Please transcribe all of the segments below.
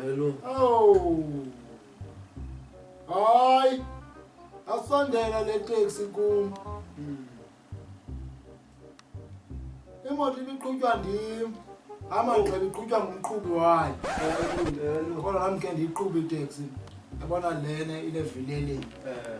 Hello. Oh. Hayi. Asondela le taxi kum. Hmm. Imoto ibiqhutywa ndim. Hamba oh. ngicela iqhutywa ngumqhubi wayo. Hello. Kodwa nami ke ndiyiqhuba itaxi. Yabona lena ile vileleni. Eh.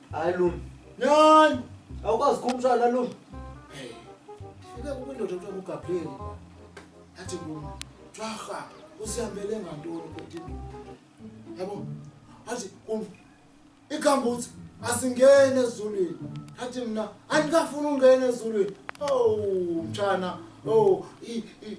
Hayi Lumi. Nyan! Awukwazi kumshaya la Lumi. Hey. Fike kubindoda mfana uGabriel. Athi Lumi, "Twaha, usihambele ngantoni kodwa indoda?" Yabo? Athi kum igambuthi asingene ezulwini. Athi mina andikafuni ungena ezulwini. Oh, mtshana. Oh, i, i,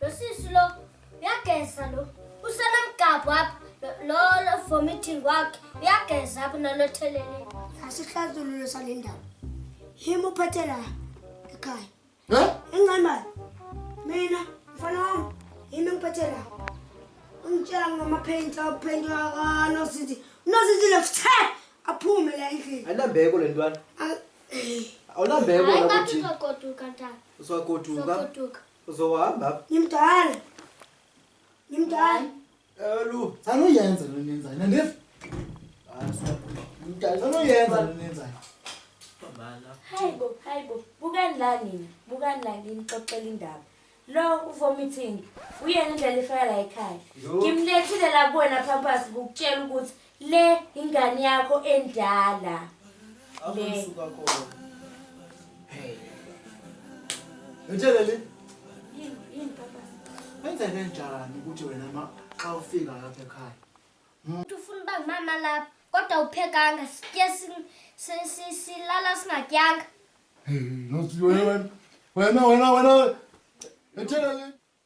Lo sisi lo uyageza lo. Usenomgabhu apha. Lo lo vomiting wakhe uyageza apha nalothelele. Asihlazilulo sale ndaba. Yimi uphethe la ekhaya. Eh? Ingane mali. Mina mfana wami yimi ngiphethe la. Ungitshela ngamaphenti aphenti akano sithi. Nosithi lo fithe aphume la endlini. Anambeko le ntwana. Awulambeko la kuthi. Hayi ngathi uzogoduka ntana. Uzogoduka. Uzogoduka. Uzohamba. Ngimdala. Ngimdala. Elu. Sanoyenza lo nenza. Nandifu. Basa. Ngimdala. Sanoyenza lo nenza. Babala. Hayibo, hayibo. Bukani la nina. Bukani la nina xoxela indaba. Lo uvomiting. Uyena indlela ifaka la ekhaya. Ngimlethile la kuwena phampasi ukutshela ukuthi Le ingane yakho endala. Le. Hey. Utshelele. Yini, yini papa? Wenze kanjani ukuthi wena ma xa ufika lapha ekhaya? Umuntu ufuna uba ngumama lapha kodwa uphekanga sitye silala singatyanga. Hey, nosiwe wena. Wena wena wena. Utshelele.